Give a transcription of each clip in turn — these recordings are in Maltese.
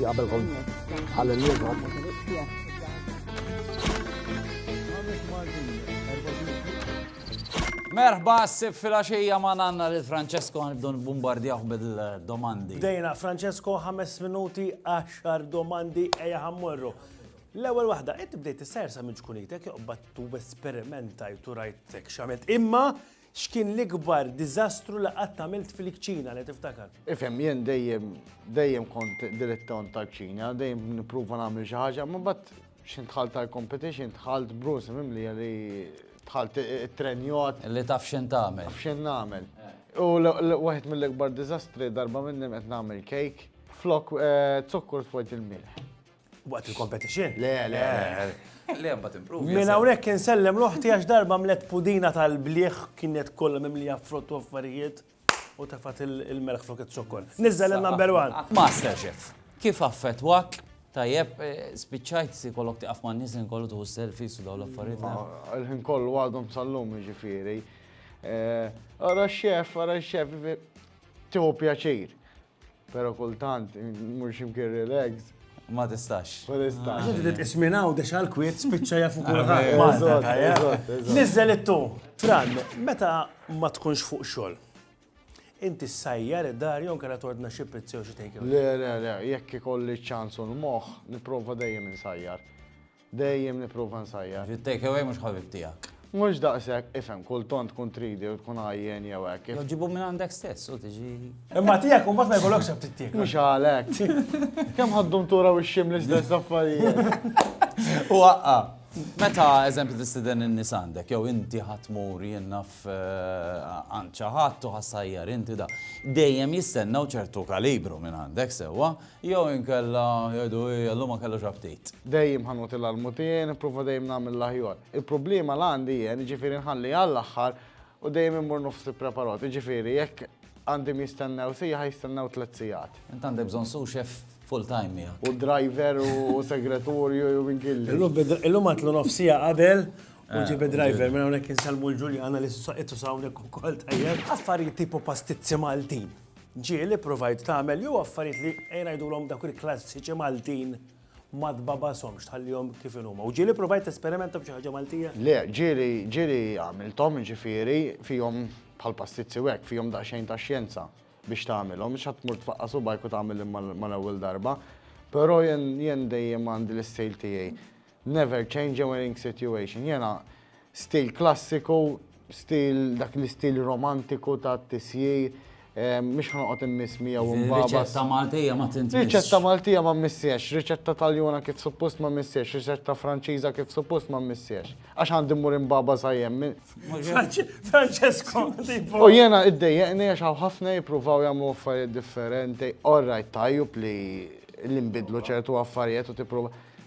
Qabel kont għal-lum Merħba s-sib fil-axija ma nanna li Francesco għanibdu bombardjaħ bil-domandi. Dejna, Francesco, 5 minuti, 10 domandi, eja ħammurru. L-ewel wahda, inti bdejt s-sersa minn ġkunitek, jobbat tu esperimentajt u rajtek xamet. Imma, X'kien l-ikbar diżastru li qatt għamilt fil-kċina li tiftakar? Ifhem, jien dejjem dejjem kont dilettont tal-kċina, dejjem nipprova nagħmel xi ħaġa, ma bad x'int dħalt tal-competition, dħalt bruż mimlija li dħalt it-trenjot. Li taf x'int tagħmel. Taf x'int nagħmel. U waħed mill-ikbar diżastri darba minnhom qed nagħmel cake, flok zokkur tpoġġi l-milħ. Waqt il-competition? Le, le, le. Le, mbagħad improvi. Minn hawnhekk insellem l-oħti għax darba mlet pudina tal-bliħ kienet kollha mimlija frott u affarijiet u tefat il-melħ flok iz-zokkor. Niżżel il-number one. Master Chef, kif affettwak Tajjeb, eh, spiċċajt si kollok tiqaf ma' nis kollu tuħu selfies u daw l-affarijiet. Il-ħin kollu għadhom sal-lum ġifiri. Eh, ara xef, ara xef, tiħu pjaċir. Pero kultant, mur ximkien relax. Ma tistax. Ma tistax. Għax inti titqis minn hawn dex għal kwiet spiċċa jafu kulħadd. Malta tajjeb. Niżel it-tu. Fran, meta ma tkunx fuq xogħol, inti ssajjar id-dar jew kera tordna xi pizzi u xi take Le, le, le, jekk ikolli ċ-ċans u l-moħħ, nipprova dejjem insajjar. Dejjem nipprova nsajjar. Ġiet take away mhux ħabib tiegħek. Mhux daqshekk, ifhem, kull tant tkun tridi u tkun għajjien jew hekk. Jew ġibhom minn għandek stess u tiġi. Imma tiegħek imbagħad ma jkollokx aptit tiekol. Mhux għalhekk. Kemm ħa d-duntura u x-xim l-istess affarijiet. U aqqa'. Meta, eżempju, tistieden in-nies għandek, jew inti ħa tmur, jien naf, għand xi ħadd u ħa ssajjar inti da. Dejjem jistennew ċertu kalibru minn għandek, sewwa? Jew inkella jgħidu hija llum ma kellhiex aptit. Dejjem ħa nagħti l-almutien, nipprova dejjem nagħmel l-aħjar. Il-problema li għandi jien, jiġifieri nħalli għall-aħħar u dejjem immur nofs ippreparat. Jiġifieri jekk għandhom jistennew siegħa jistennew tliet sigħat. Int għandek bżonn sous chef full time miegħek. U driver u segretorju jew min kien li. Illum għatlu nofs siegħa qabel u ġieb id-driver minn hawnhekk insellmu l-Ġuljana li qed tuża hawnhekk ukoll tajjeb. Affarijiet tipu pastizzi Maltin. Ġieli, provajt tagħmel jew affarijiet li ejja ngħidulhom dawk il-klassiċi Maltin ma tbagħbashomx, tħallihom kif inhuma. U ġieli provajt tesperimenta b'xi ħaġa Maltija? Le, ġieli, ġieli għamilthom, jiġifieri fihom bħal pastizzi u hekk, fihom daqsxejn ta' xjenza biex tagħmilhom, mhux ħadd tmur tfaqqa' subgħajk u tagħmilhom mal-ewwel darba. Però jien dejjem għandi l-istejl tiegħi. Never change a winning situation. Jiena stil klassiku, stil dak l-istil romantiku ta' tisjir, mhux ħa noqgħod immiss miegħu u nbagħbas. Riċetta Maltija ma tintmissx. Riċetta Maltija ma mmissiex, riċetta Taljana kif suppost ma mmissiex, riċetta Franċiża kif suppost ma mmissiex. Għax għandi mmur inbagħbas għajjem minn. Francesco, tipo. U jiena iddejjeqni għax hawn ħafna jippruvaw jagħmlu affarijiet differenti. All right, tajjeb li nbidlu ċertu affarijiet u tipprova.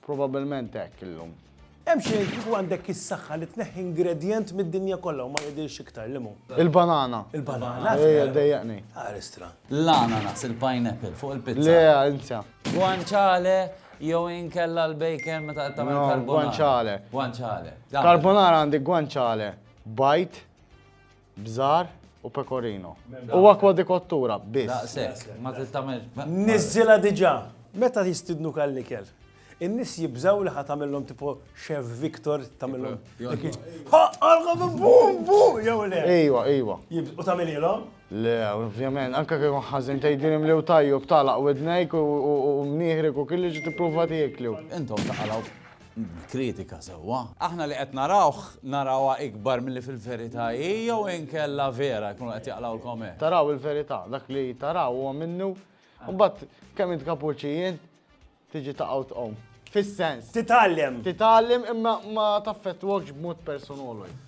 Probabbilment hekk illum. Hemm xejn kieku għandek is-saħħa li tneħħi ingredjent mid-dinja kollha u ma jidhirx iktar li mhu. Il-banana. Il-banana. Ejja dejjaqni. Aristra. L-ananas, il-pineapple fuq il-pizza. Le, insa. Guanciale jew inkella l-bacon meta qed tagħmel carbonara. Guanciale. Guanciale. Carbonara għandi guanciale bajt. Bżar u pecorino. U akwa di kottura, biss. Daqshekk, ma tittamel. Niżżilha diġà. Meta jistidnuk għall-ikel, in-nies jibżgħu li ħa tagħmilhom tipo Chef Victor tagħmilhom. Ħaqalkom bum bum jew le. Ejwa, ejwa. U tagħmililhom? Le, ovvjament, anke kieku ħażin tgħidilhom li tajjeb tagħlaq widnejk u mnieħrek u kelli ġi tipprova tieklu. Intom taqalgħu. kritika sewwa. Aħna li qed narawh, narawha ikbar milli fil-verità hi jew inkella vera jkunu qed jaqlgħulkom hekk? Taraw il-verità, dak li taraw huwa minnu, u mbagħad kemm int kapuċi jien, tiġi taqa' u tqum. Fis-sens. Titgħallem. Titgħallem imma ma taffettwakx b'mod personolu.